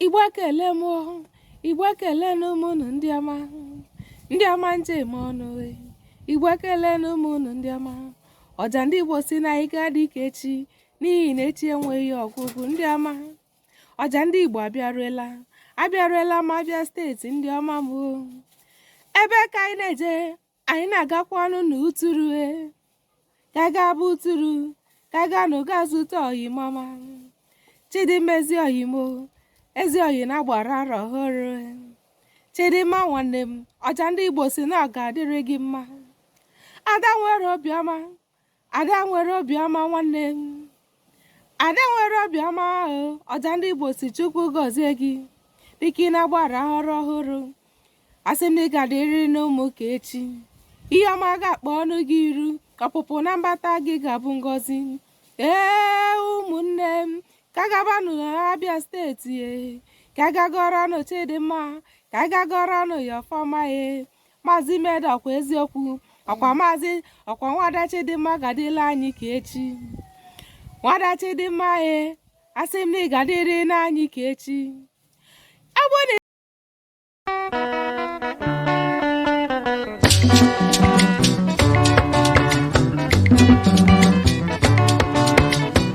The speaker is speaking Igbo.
igbo ekele m igbo ekelenụ m ụnụ ndị ọma ndị ọma m ji eme ọnụ igbo ekelenụ m ụnụ ndị ọma ọja ndị igbo si na anyị ga-adị ka echi n'ihi na echi enweghị ọgwụgwụ ndị ọma ọja ndị igbo abịaruela abịaruela m abịa steeti ndị ọma m ebee ka anyị na-eje anyị na-agakwanụ n'uturu e. ka gaba uturu ka gaanụ ga zute ọyị m ọma chidimma ezi ọyị m o ezi ọyị na-agbara arọ ọhụrụ e. chidimma nwanne m ọja ndị igbo si na ọ ga-adịrị gị mma ada nwere obiọma ada nwere obiọma nwanne m ada nwere obiọma ọja ndị igbo si chukwu gọzie gị dịka ị na-agbara arọ ọhụrụ asị m na ị ga-adịrịnụ mụ ka echi ihe ọma ga-akpọnụ gị iru ọpụpụ na mbata gị ga-abụ ngọzi ee ụmụnne m ka gabanụ abịa steeti e ka ga gọrọnụ chidimma ka ga gọrọnụ ya ọfọ ọma e maazị Imeda ọkwa eziokwu ọkwa nwada Chidimma ga-adịrị anyị ka echi nwada Chidimma e asị m na ị ga-adịrịnụ anyị ka echi